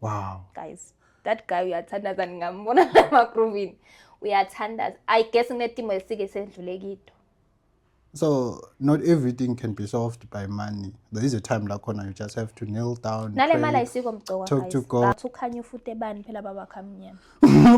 wow guys that guy uyathandaza ngingambona lamagruvini uyathandaza i guess kunetimo esike sendlule kito so not everything can be solved by money there is a time la khona you just have to kneel down nale mali ayisiko mgcoka talk to god bathi ukhanya ufute bani phela baba khamnyama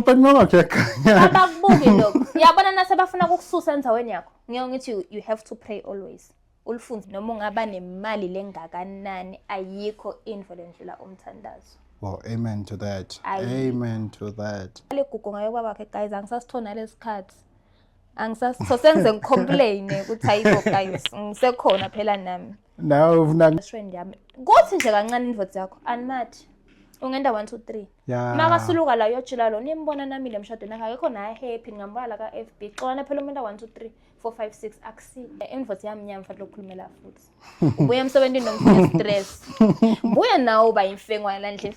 but mama kuyakhanya abakubuki lokho yabona nase bafuna ukukususa enzaweni yakho ngiyo ngithi you have to pray always ulifunde noma ungaba nemali lengakanani ayikho into lendlula umthandazo Well, amen to that. Ayi. Amen to that. le gugu ngayo kwaba ke guys angisasithona lesikhathi angisasitho sengize ngicomplain ukuthi ayibo guys ngisekhona phela nami Nawe ufuna best friend yami kuthi nje kancane indvodza yakho animathi ungenda 1 2 3 ya. makasuluka la yojula lo nimbona nami le mshadweni akekho naye happy ngingambona la ka-fb xolana phela umuntu a-1 2 3 456 akusi invoice yami nyama mfana lokukhulumela futhi ubuya emsebenzini nomfana stress buya nawo uba imfengwana la ndlini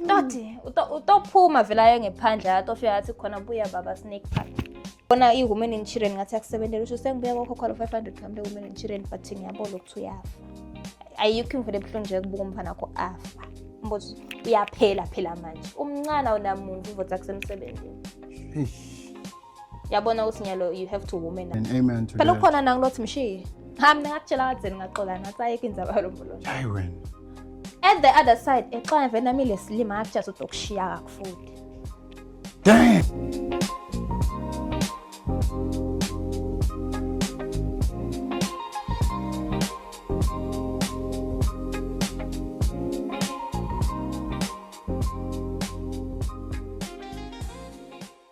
toti utophuma vela aye ngephandle athi ofika athi khona buya baba snake park bona i-women in children ngathi akusebentela usho sengibuya kokhokhwalo 500 kambe women in children but ngiyabona ukuthi uyafa ayikho imvele ebuhlungu nje kubuka umfana kho afa mbuzo uyaphela phela manje umncane awunamuntu uvotsa kusemsebenzini yabona ukuthi nyalo you have to woman and amen to phela ukhona nang lothi mshiye ha mina ngakutshela kadzeni ngaxola ngathi ayeke indzaba yalomboloto hayi wena at the other side exola vele nami lesilima ngakutshela ukuthi ukushiya kakufuthi damn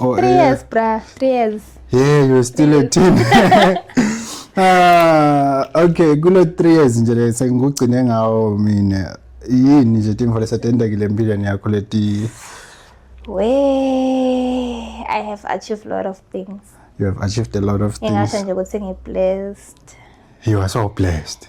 Oh, three eh. years, bruh. Three years. Yeah, you're still a teen. ah, okay, kulo three years nje le sengikugcine ngawo mina. Yini nje timfo lesetendekile empilweni yakho leti? We, I have achieved a lot of things. You have achieved a lot of things. Ngingasho nje ukuthi ngiblessed. You are so blessed.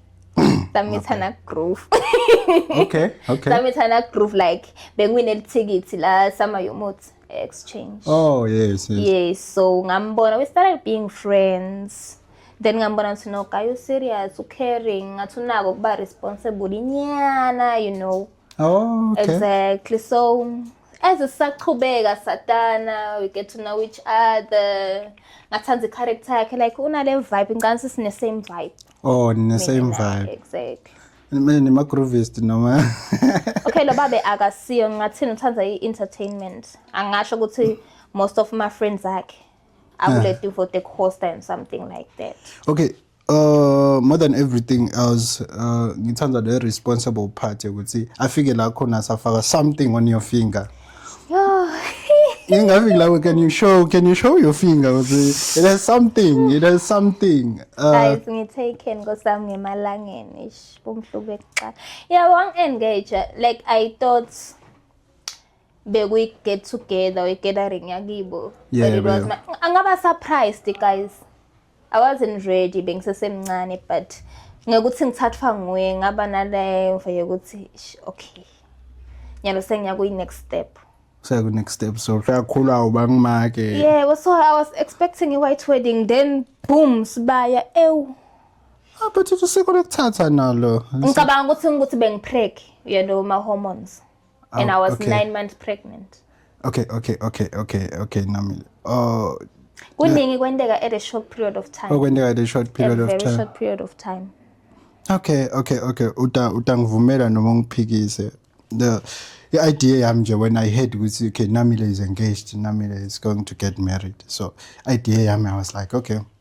samithana groove okay okay samithana groove like bengiwine lithikiti la sama yomuthi exchange oh yes yes, yes so ngambona we started being friends then ngambona ukuthi no guy you serious u caring ngathi unako kuba responsible inyana you know oh okay exactly so as sisaqhubeka satana we get to know each other ngathanda i-character yakhe like unale vibe ngicani sisine-same vibe oh nine same Mina naye, vibe exactly mina nima groovist noma okay lo babe akasiyo ngingathini uthanda i-entertainment angasho ukuthi most of my friends akhe akule duvo the coaster and something like that okay uh more than everything else uh ngithanda the responsible part ukuthi afike la khona safaka something on your finger Yo. Ingavi like can you show can you show your finger ukuthi it has something it has something. Uh, Guys ngithaken ngosami ngemalangeni ish kumhlubu ekuqala. Yeah one engage like I thought bekuyi get together or gathering yakibo. Yeah, but it was my, angaba surprised guys. I wasn't ready bengisesemncane but ngekuthi ngithathwa nguye ngaba naleyo yokuthi okay nyalo sengiyakuyi next step seku next step so kakhulu awuba ngimake yebo so i was expecting a white wedding then boom sibaya ewu ah, but usuke lokuthatha nalo ngicabanga ukuthi ngikuthi bengipreg uyalo ma hormones oh, and i was okay. nine months pregnant okay okay okay okay okay nami oh kuningi kwenteka at a short period of time okwenteka oh, at a short period a of time short period of time okay okay okay uta utangivumela noma ungiphikise the i-idea yami nje when i heard ukuthi okay namile is engaged namile is going to get married so idea yami i was like okay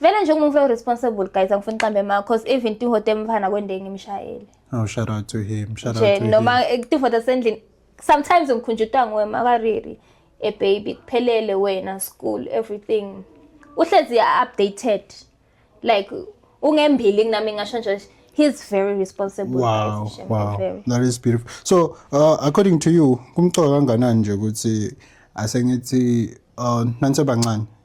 vele nje umuntu responsible guys angifuni qambe ma cause even tihote mfana kwende ngimshayele oh shout out to him shout out to him noma tihote sendlini sometimes ngikhunjutwa nguwe makariri a baby kuphelele wena school everything uhlezi updated like ungembili kunami ngasho nje he's very responsible wow, guys, wow. Very. that is beautiful so uh, according to you kumcoka kanganani nje ukuthi asengithi uh, nansebancane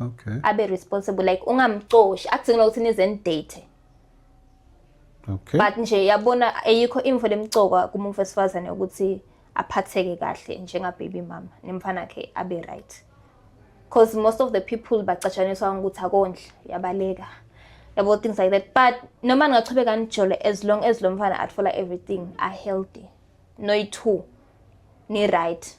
okay abe responsible like ungamcoshi akudzingi ukuthi nize nidate okay but nje yabona ayikho imvo lemcoka kumuntu wesifazane ukuthi aphatheke kahle njenga baby mama nemfana ke abe right because most of the people bacatshaniswa ukuthi akondla yabaleka yabo things like that but noma ningachubeka nijole as long as lo mfana athola everything are healthy noyi-two ni-right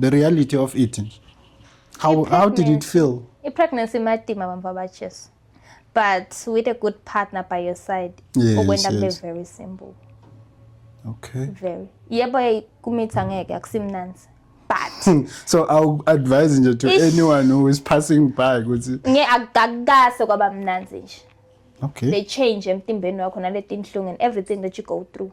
the reality of it how, how did it feel i-pregnancy imatima bamva bajesu but with a good partner by your side yes, okwenda kube yes. very simple okay very yebo kumitha ngeke akusimnanzi but hmm. so i'll advise nje to anyone who is passing by ukuthi nge akukase kwaba mnanzi nje okay they change emtimbeni wakho naletinhlungu and everything that you go through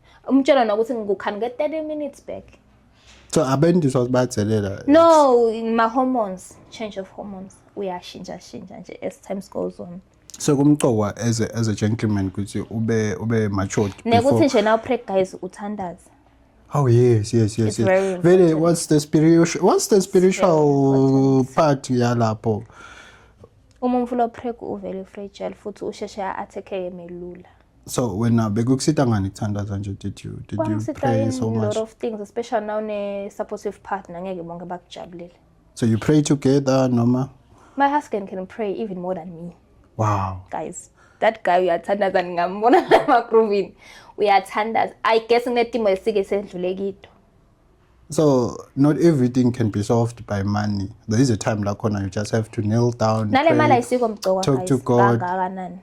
umtshela nokuthi ngikukhani nge-30 minutes back so abendiswa badelela no ma-hormones change of hormones uyashintsha shintsha nje as times goes on sekumqokwa as a, as a gentleman ukuthi ube ube matured nekuthi nje now preg guys uthandaze Oh yes, yes, yes. It's yes. Very what's the spiritual what's the spiritual part yalapho? Uma umfula preg uvele fragile futhi usheshe a attack emelula. so wena bekukusita ngani kuthandaza nje did you did you pray so much a lot of things especially now ne supportive partner ngeke bonke bakujabulele so you pray together noma my husband can pray even more than me wow guys that guy uyathandaza ngingambona lamagrovini uyathandaza i guess nginetimo esike sedlule kito so not everything can be solved by money there is a time lakhona you just have to kneel down nale mali ayisiko mgcoka talk to god kangakanani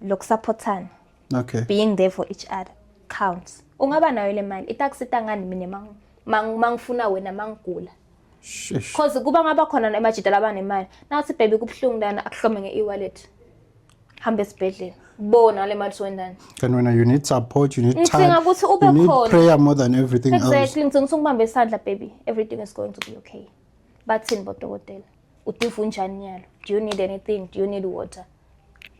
lokusaphothana okay being there for each other counts ungaba nayo le mali itakusita ngani mina mangifuna wena mangigula cause kuba ngaba khona emajita labanemali nathi baby kubuhlungu lana akuhlome nge-e-wallet hamba esibhedlela bona le mali siwendani kanti wena you need support you need ngidinga ukuthi ube khona prayer more than everything exactly ngidinga ukuthi ngibambe isandla baby everything is going to be okay bathini bodokotela udiva unjani nyalo do you need anything do you need water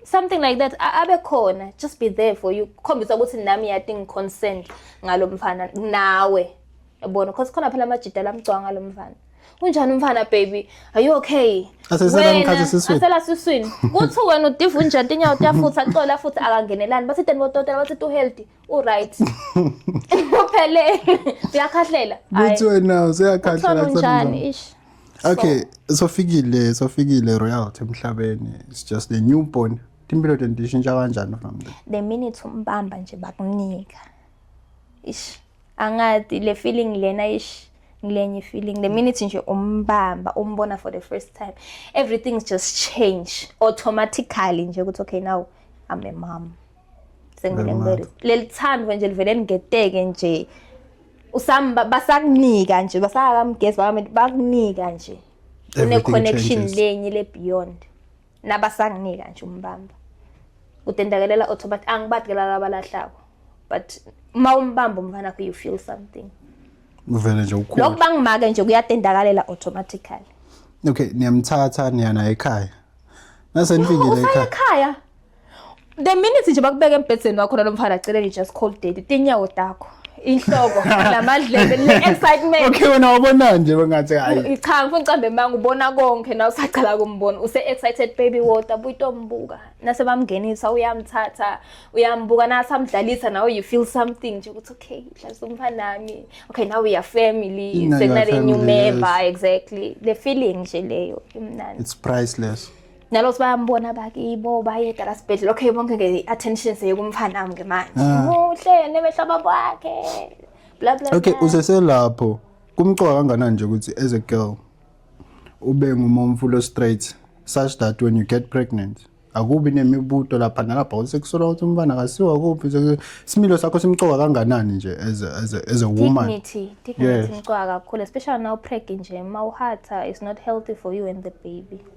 something like that abe khona just be there for you kukhombisa ukuthi nami yati ngiconcerned ngalo mfana nawe yabona because khona phela amajida lamgcwanga lo mfana unjani umfana baby are you okay asela siswini kuthi wena udiva unjani tinyawo tiyafutha xola futhi akangenelani bathi teni bodokotela bathi tu healthy uright uphele uyakhahlela Uthi wena useyakhahlela njani ish okay sofikile sofikile royalty emhlabeni it's just a newborn impilo tendishintsha kanjani from there the minute umbamba nje bakunika ish angathi le feeling lena ish ngilenye feeling the minute nje umbamba umbona for the first time everything's just change automatically nje ukuthi okay now i'm a mom sengibele leli thandwe nje livele ngeteke nje usam basakunika nje basakamgezi bakamenti bakunika nje une connection lenye le beyond nabasanginika nje umbamba udendakalela otho but angibadikela laba lahlako but uma umbamba umfana wakho you feel something uvele nje ukhulu lokho bangimake nje kuyadendakalela automatically okay niyamthatha niyana ekhaya nase nifikile ekhaya ekhaya the minute nje bakubeka embhedzeni wakho nalo mfana cela nje just call daddy tinyawo takho inhloko lamadlebe le excitement okay wena wabona nje bengathi hayi cha ngifuna ucambe manga ubona konke na usaqala kumbona use excited baby water buyitombuka nase bamngenisa uyamthatha uyambuka na samdlalisa nawe you feel something nje ukuthi okay dlalisa umfanami okay now we are family sekunale new member exactly the feeling nje leyo imnandi it's priceless nalothi bayambona bakibo bayeda la sibhedlela okay bonke nge-attention seyekumfanami-ke manje ah. muhle nemehlo babo wakhe bla bla okay useselapho kumqoka kanganani nje ukuthi as a girl ube ngumomfulo straight such that when you get pregnant akubi nemibuto lapha nalapha ukuthi kusola ukuthi umfana akasiwa kuphi isimilo sakho simcoka kanganani nje as a, as a, as a woman dignity dignity yes. imcoka kakhulu especially now pregnant nje mawuhatha it's not healthy for you and the baby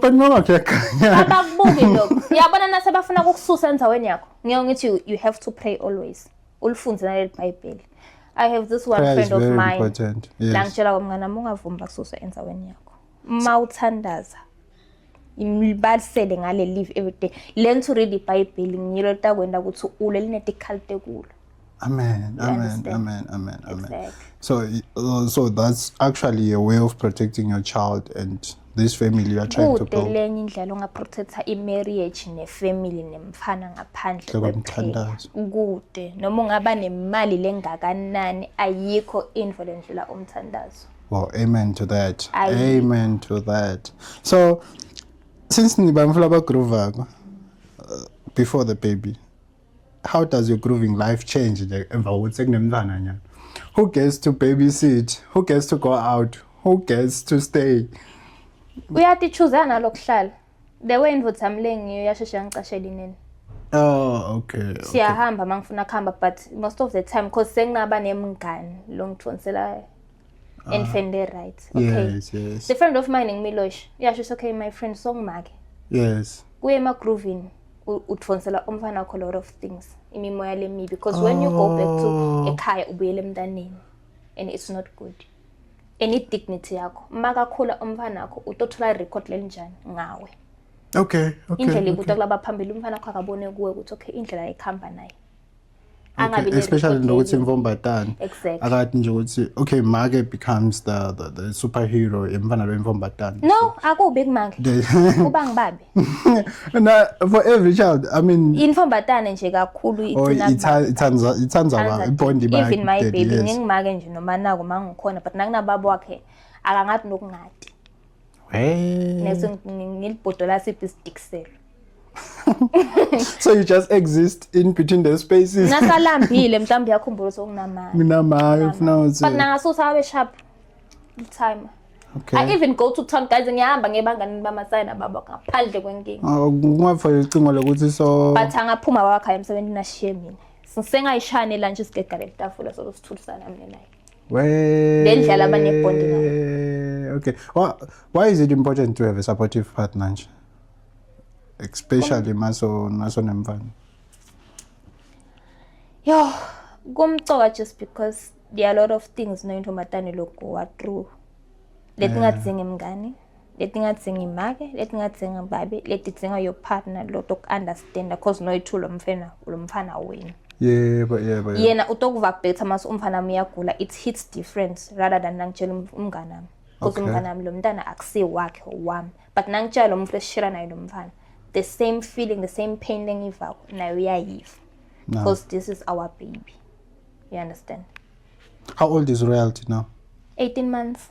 but mama kuyakhanya abakubuki lokho uyabona nase bafuna ukukususa endaweni yakho ngeke ngithi you- you have to pray always ulifunde naleli bhayibheli i have this one Prayer is friend of very mine important. Yes. la ngitshela kwamngane wami ungavumi bakususa endaweni yakho uma uthandaza imibalisele ngale live every day learn to read ibhayibheli ngiyilo takwenda ukuthi ule linedical tekulo Amen, amen, amen, amen, amen. Exactly. So, uh, so that's actually a way of protecting your child and this family you are trying to build. Kude indlela ongaprotecta i-marriage ne-family nemfana ngaphandle kwephela. Kude noma ungaba nemali lengakanani ayikho indvo lendlela umthandazo. Well, amen to that. Aye. Amen to that. So, since nibamfula bagroovako uh, before the baby, how does your grooving life change nje emva kokuthi sekunemntwana nyana who gets to babysit who gets to go out who gets to stay uyatichuzela nalokuhlala the way indvodza mlengiyo yasheshe yangicashela inene Oh okay. Siyahamba okay. mangifuna kuhamba but most of the time cause senginaba nemngani lo ngithonselayo. Ah. And fende right. Okay. Yes, yes. The friend of mine ngimilosh. Yasho okay my friend songimake. Yes. Kuye ema grooving. udonsela umfana wakho lot of things imimoya lemibi because oh. when you go back to oh. ekhaya ubuyele emntaneni and it's not good and i-dignity yakho uma kakhula umfana wakho utothola i-record lelinjani ngawe okay, okay indlela ikuta okay. kulaba phambili umfana wakho akabone kuwe ukuthi okay indlela ekuhamba naye angabi especially nokuthi imfombatane akathi nje ukuthi okay make becomes the, the, the superhero emfana lo imfombatane no akubi kumake kuba ngibabe na for every child i mean imfombatane nje kakhulu oh, ithina ithanda ithanda ba ibond ba even my baby ngingimake nje noma nako mangikhona but nakunababa wakhe akangathi nokungadi next ngilibhodola siphi isidikselo so you just exist in between the spaces nasalambile mhlawumbe uyakhumbula ukuthi okunamali nginamali ufuna ukuthi but nangasusa abe sharp timer Okay. I even go to town guys ngiyahamba ngebangani bamasaya nababa ngaphandle kwenkinga. Ah, Ungafaka icingo lokuthi so But angaphuma wakhaya emsebenzini ashiye mina. Sengayishane la nje sigegale itafula so sithulisana mina naye. Wee. Lendlela abanebond ngayo. Okay. Why, why is it important to have a supportive partner nje? Especially maso naso nemfana. Yo, kumcoka just because there are a lot of things noyintombazane lokhu wa through. Letingadzingi mngani. leti nga dzingi make leti nga dzingi babe leti dzinga your partner loto ku understand cause no ithu lo mfana lo mfana wena yebo yebo yena utokuva better mas umfana wami uyagula it hits different rather than nangitshela um-, umngane wami cause umngane wami lo mntana akusi wakhe wami but nangitshela lo muntu esishira naye lo mfana the same feeling the same pain lengivako naye uyayiva because no. this is our baby you understand how old is royalty now 18 months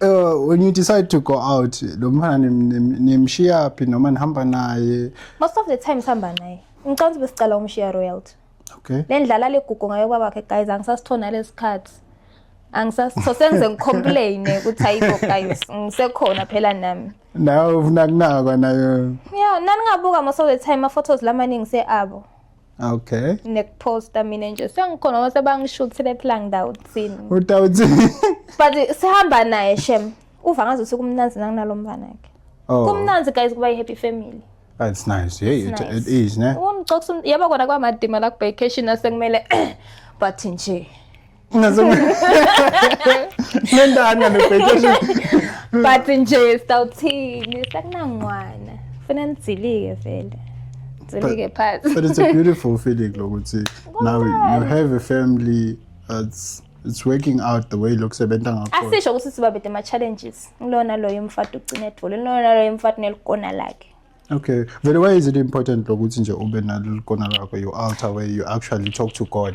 Uh, when you decide to go out lo mfana nimshiya phi noma nihamba naye most of the time sihamba naye ngicela ukuthi besicela umshiya royalty okay le ndlala legugu ngayo baba wakhe guys angisasithona lesikhathi angisasitho sengize ngicomplaine ukuthi ayikho guys ngisekhona phela nami nawe ufuna kunakwa nayo yeah naningabuka most of the time ama-photos lamaningi se-abo okay nekuposta mina nje sengikhona uma sebangishuthile phela ngidawuthini udawuthini but sihamba naye shem uva ngaze usuku umnanzi nanginalo mfana ke oh. kumnanzi guys kuba i-happy family That's nice. Yeah, it, nice. it is, ne? Ungixoxa yaba kona kwamadima la kubhekeshini asekumele but nje nendani nganobhekesha but nje sawuthini sakunangwana funa nizilike vele zilike phansi but it's a beautiful feeling lokuthi now you have a family that's it's working out the way lokusebenza ngakhona asisho ukuthi sibabede ama challenges ngilona loyo umfati ugcina edvule ngilona loyo umfati nelikona lakhe Okay. Very why is it important lokuthi nje ube nalolu kona lakho you alter where you actually talk to God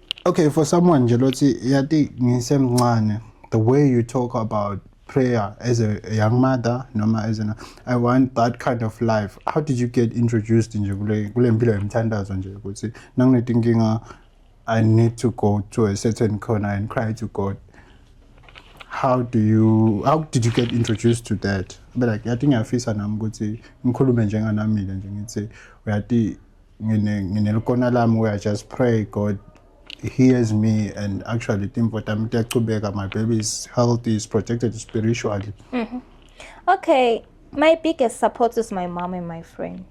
Okay, for someone nje lothi yati ngisemncane the way you talk about prayer as a, a young mother noma as an I want that kind of life. How did you get introduced nje kule kule mpilo yemthandazo nje ukuthi nanginetinkinga I need to go to a certain corner and cry to God. How do you how did you get introduced to that? But like yathi ngiyafisa nami ukuthi ngikhulume njenganamile nje ngithi uyati ngine nginelukona lami we are just pray god hears me and actually timvo tami tiyachubeka my baby is healthy is protected spiritually mm -hmm. okay my biggest support is my mom and my friend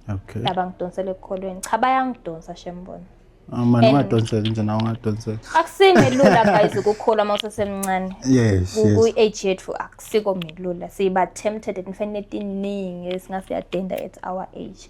okay laba ngidonsele ekukholweni cha bayangidonsa shembona ah, mani ungadonseki nje nawe ungadonseki akusime lula guys ukukholwa uma usesemncane yes kwi-age yethu akusiko melula siba tempted and fanele tiningi esingase yadenda at our age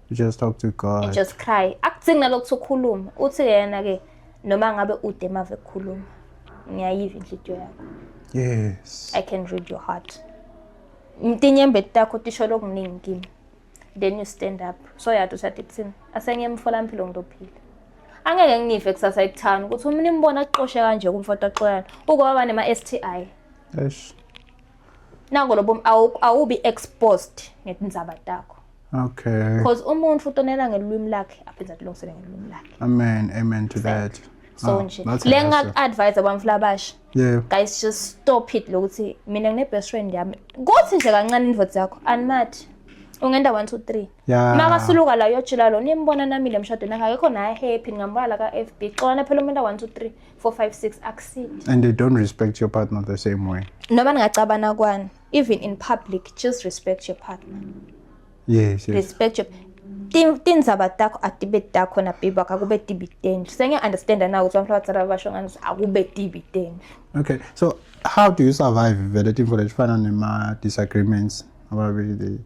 You just talk to God. You just cry. Akudzingi nalokuthu ukhuluma. Uthi yena ke noma ngabe ude mave kukhuluma. Ngiyayiva inhliziyo yakho. Yes. I can read your heart. Mtinyembe takho tisho lokuningi kimi. Then you stand up. So yathi ushade kuthini? Asenye emfolampilo ngilophila. Angeke nginive kusasa ekuthana ukuthi umuntu imbona aqoshe kanje kumfoto axoyana. Ukwaba nema STI. Eish. nako lobo awubi exposed ngetindzaba takho okay because umuntu utonela ngelulwimi lakhe aphinde atilungisele ngelulwimi lakhe amen amen to that so ah, nje le ngak-advise abamfula abasha yeah guys just stop it lokuthi mina ngine-best friend yami kuthi nje kancane indvodza yakho animathi ungenda one two three yeah. makasuluka la uyojila lo nimbona namile emshadweni akekho naye happy ngingambona la ka-f b xolana phela umuntu a-one two three 456 akusini and they don't respect your partner the same way noma ningacabana kwani even in public just respect your partner yes, yes. respect your tindzaba takho atibe takho nabibi wakho akube tibi tenu sengiya-understanda na ukuthi abantu abadala babasho ngani akube tibi tenu okay so how do you survive vele timvo letifana nema-disagreements ababili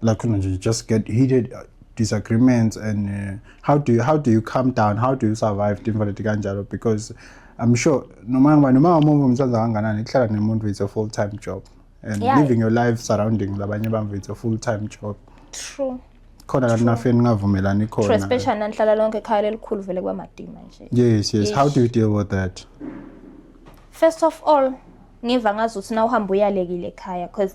like you know, just get heated uh, disagreements and uh, how do you how do you calm down how do you survive timfa leti kanjalo because i'm sure noma ngoba noma umuntu umthanda kanganani kuhlala nemuntu it's a full time job and yeah. living your life surrounding labanye bamvu it's a full time job true khona kanti nafeni ningavumelani khona especially nanihlala lonke ekhaya lelikhulu vele kwamadima nje yes yes Ish. how do you deal with that first of all ngiva ngazuthi na uhamba uyalekile ekhaya because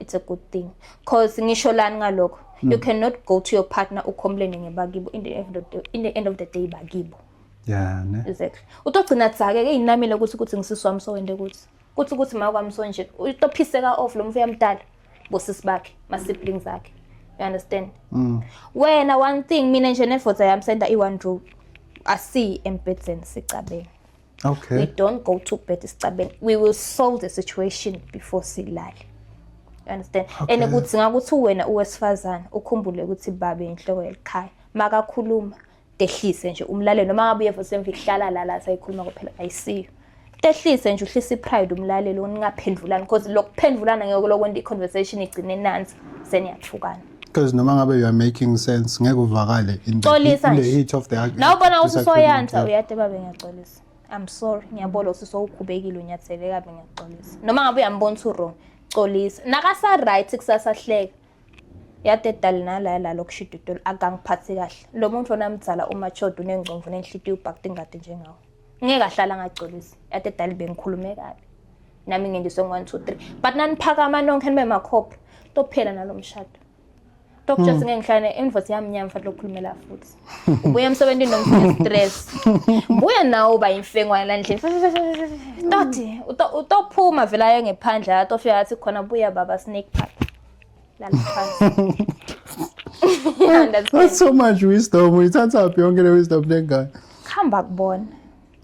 it's a good thing cause ngisho lani ngalokho you hmm. cannot go to your partner ukhomplene ngebakibo in the end of the, in the end of the day bakibo yeah ne exactly utogcina dzake ke inamile ukuthi ukuthi ngisisi wami sowende ukuthi kuthi ukuthi ma kwami sonje utophiseka off lo mfo yamdala bosisi bakhe ma siblings akhe you understand mm. wena one thing mina nje nefoza yami senda i one room asi embedzen sicabeni okay we don't go to bed isicabeni we will solve the situation before silale you understand okay. and ukuthi ngakuthi wena uwesifazane ukhumbule ukuthi babe inhloko yelikhaya makakhuluma tehlise nje umlaleli noma ngabe uyeva semva ihlala la la sayikhuluma kuphela ayisiyo tehlise nje uhlise ipride umlaleli uningaphendulani because lokuphendulana ngeke lokwenda iconversation igcine nansi seniyathukana because noma ngabe you are making sense ngeke uvakale in the, Xolisa in the nje. heat of the argument. nawe ubona ukuthi usoyansa uyade babe ngiyaxolisa i'm sorry ngiyabona ukuthi sowukhubekile unyathele kabi ngiyaxolisa noma ngabe uyambona ukuthi uwrong xolisa nakasa-right kusasa hleka yade dali nalaya lalo kushida utolo akangiphathi kahle lo muntu ona mdzala umachoda unengcomvu nenhlitiyo ubhakta ingadi njengawo ngeke ahlala angaxolisi yade dali bengikhulume kabi nami ngendiswe ngo-1 2 3 but naniphakama nonke nibe makhopha tophela nalo mshado tokutshela hmm. ngeke ngihlale invoice yami nyama mfana lokukhulumela futhi ubuya emsebenzini nomfuna stress buya nawo uba imfengwana la ndlini toti utophuma vela aye ngephandle la tofika athi khona buya baba snake park lala phansi That's so much wisdom. Uyithatha phi yonke le wisdom lengane? Hamba kubona.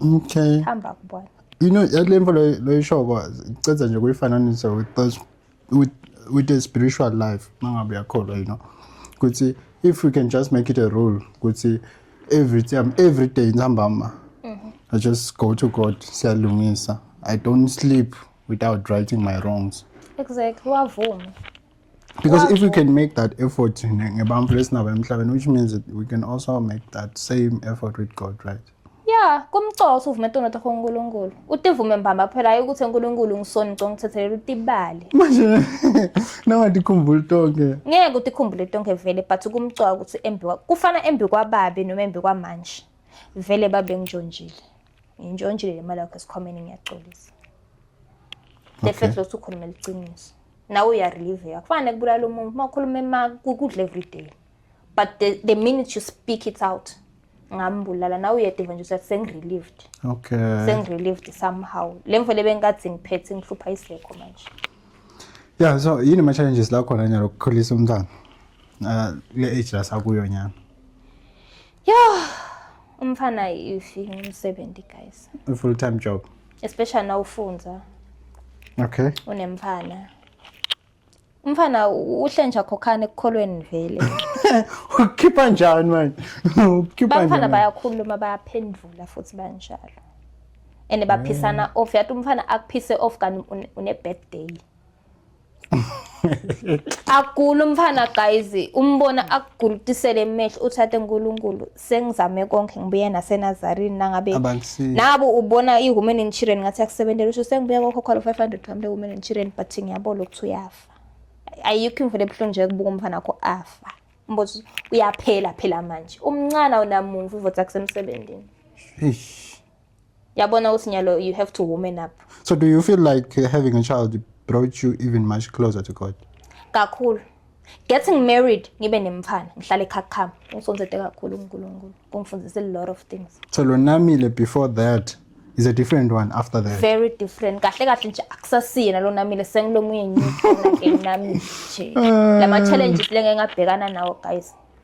Okay. Hamba kubona. You know, yale mfo loyishoko cedza nje kuyifananisa with with with a spiritual life mangabe yakholwa you know ukuthi if we can just make it a rule ukuthi every time every day ntambama mm-hmm. I just go to God siyalungisa I don't sleep without righting my wrongs exactly wavuma because if we can make that effort ngebantfu lesinabo emhlabeni which means that we can also make that same effort with god right ya kumcosa uvume tono takho unkulunkulu utivume mbamba phela hayi ukuthi unkulunkulu ngisoni ngiconga ukuthethelela utibale manje nangatikhumbuli tonke ngeke utikhumbule tonke vele but kumcoka ukuthi embi kufana embi kwababi noma embi kwamanje vele babe ngijonjile Ngintshontshile le mali yakho esikhwameni ngiyaxolisa. The fact ukuthi ukhuluma iliciniso. Nawe uyarelieve yakho. Kufanele kubulala umuntu uma ukhuluma ema kudla every day. But the, the minute you speak it out ngambulala nawe uyede nje usathi sengirelieved. Okay. Sengirelieved somehow. Le mfo le bengathi ngiphethe ngihlupha isekho manje. Yeah, so yini ama challenges la khona nyalo ukukhulisa umntana? Uh, le age la sakuyo nyana. Yho, umfana ifi ngumsebenzi guys. A full time job. Especially now ufunza. Okay. Unemfana. Umfana uhle nje akhokhane ekukholweni vele. Ukhipha njani manje? Ukhipha njani? Bafana bayakhuluma bayaphendula futhi banjalo. And baphisana off yathi umfana akuphise off kanti une birthday. agula umfana guys umbona akugulutisele emehlo uthathe uNkulunkulu sengizame konke ngibuye naseNazarini nangabe nabu ubona iwomen and children ngathi akusebenzele usho sengibuya kokhokhwala 500 kambe women and children but ngiyabona ukuthi uyafa ayikho imvule ebuhlungu nje kubuka umfana wakho afa mbozo uyaphela phela manje umncane awunamumvu ivotsa kusemsebenzini yabona ukuthi nyalo you have to woman up so do you feel like uh, having a child brought you even much closer to god kakhulu getting married ngibe nemfana ngihlale ekhakhama usonzete kakhulu unkulunkulu kungifundise a lot of things so lonamile before that is a different one after that very different kahle kahle nje akusasiyena lo namile sengilomunye ngikhona ke nami nje ah. lama challenges lengeke ngabhekana nawo guys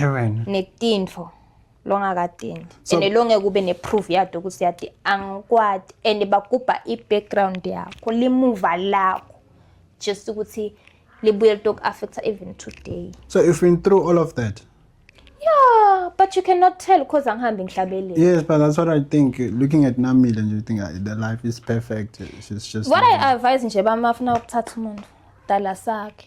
Yewena. netinfo longakadingi So- and longeke ube ne-proof yato ukuthi yati angikwati and bagubha i-background yakho limuva lakho just ukuthi libuye litoku-affecta even today So you've been through all of that. yeah but you cannot tell because angihambi ngihlabeleni Yes, but that's what I think. Looking at Namil and you think uh, the life is perfect. She's just. what i advise nje bamafuna ukuthatha umuntu dala sakhe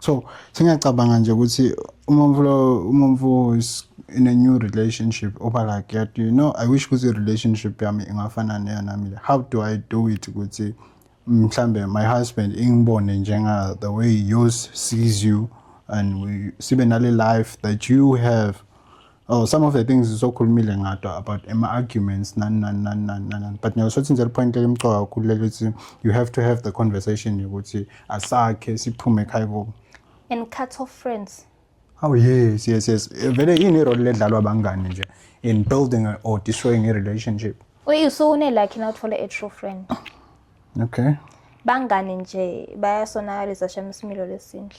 so singacabanga nje ukuthi umomfu lo umomfu is in a new relationship oba like yet you know i wish ukuthi relationship yami ingafana neyo nami le how do i do it ukuthi mhlambe my husband ingibone njenga the way yours sees you and we, sibe nale life that you have Oh, some of the things sokhulumile ngadwa about ama arguments nani nani nani nani nani but ngiyakusho ukuthi nje point elimcoka kakhulu lelo ukuthi you have to have the conversation yokuthi asakhe siphume ekhaya kubo and cut off friends Oh yes yes yes vele ini role ledlalwa abangani nje in building or destroying a relationship uyisune like na uthole a true friend okay bangani nje bayasonakalisa shem isimilo lesinhle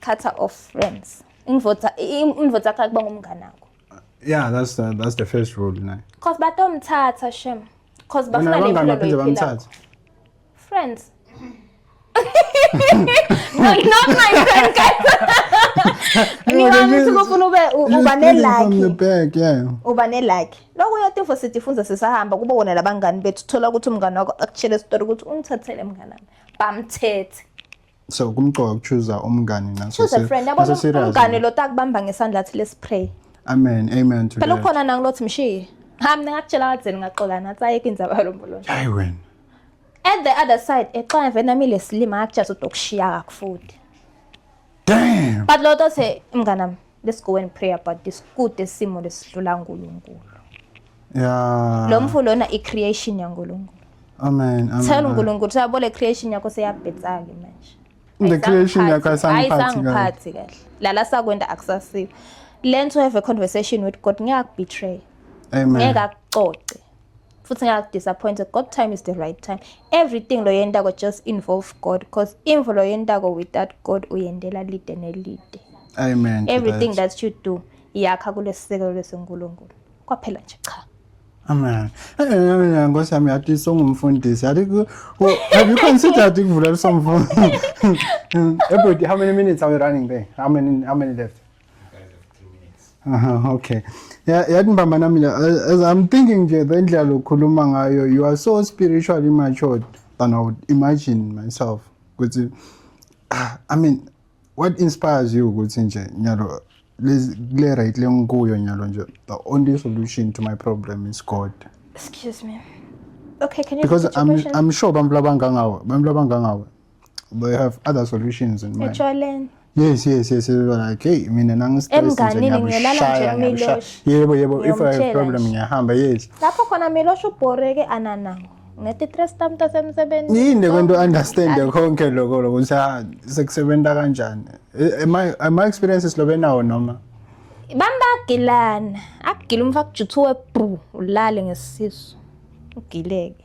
cutter of friends ingivota ingivota yakho kuba ngumngane wakho yeah that's the, that's the first rule naye cause batomthatha shem cause bafuna le mpilo baphinde bamthathe friends no, not my friend guys ngiwamthi ufuna ube uba nelaki uba nelaki lokho uyotifo sitifundza sisahamba kuba wona labangani bethu thola ukuthi umngane wakho akushele isitori ukuthi ungithathele mnganami bamthethe so kumqoka ukuchuza umngane nxa Choose a friend. Yabona serious umngane lo takubamba ngesandla athi let's pray. amen amen to Phela that ukhona nangu lothi mshiye. Ha mina ngakutshela kadzeni ngaxola nathi ayeke indzaba yalomboloto. hayi wena At the other side exola vena mile silima akujaza utokushiya kakufuthi. damn But lo tothe mnganami let's go and pray about this kude simo lesidlula uNkulunkulu yeah lo mfo lona i creation yaNkulunkulu amen amen tell uNkulunkulu sabo le creation yakho seyabhetsa ke manje the creation yakho ayisangiphathi kahle lala sakwenda akusasiko learn to have a conversation with God ngiyakubetray amen ngeke akucoce futhi ngingakudisappointed god time is the right time everything loyentako just involve god because imvo loyentako without god uyendela lide nelide amen everything that. that you do yakha kulesisekelo lesenkulunkulu kwaphela nje cha Amen. Amen. Nkosi yami yathi songumfundisi. Yathi have you considered ukuvula somfundisi? Ebert, how many minutes are we running there? How many how many left? Aha, okay. Yeah, yathi mbambana mina uh, as I'm thinking nje the ndlela lokukhuluma ngayo you are so spiritually matured than I would imagine myself ukuthi ah, I mean what inspires you ukuthi nje nyalo lezi- kule right lengikuyo nyalo nje the only solution to my problem is God Excuse me. Okay, can you because repeat your I'm question? I'm sure abantu labangangawe abantu labangangawe they have other solutions in mind etshwaleni yes yes yes like hey mina nangistressiyebo yebo if i have problem ngiyahamba yes lapho khona milosho ubhoreke ananawo ngethi-tres tam tasemsebenzini yini lekwento understande konke loko loko ukuthi ah, sekusebenza kanjani eh, ama experiences lobe nawo noma bambagilana akugila umfakujuthiwe bru ulale ngesisu ugileke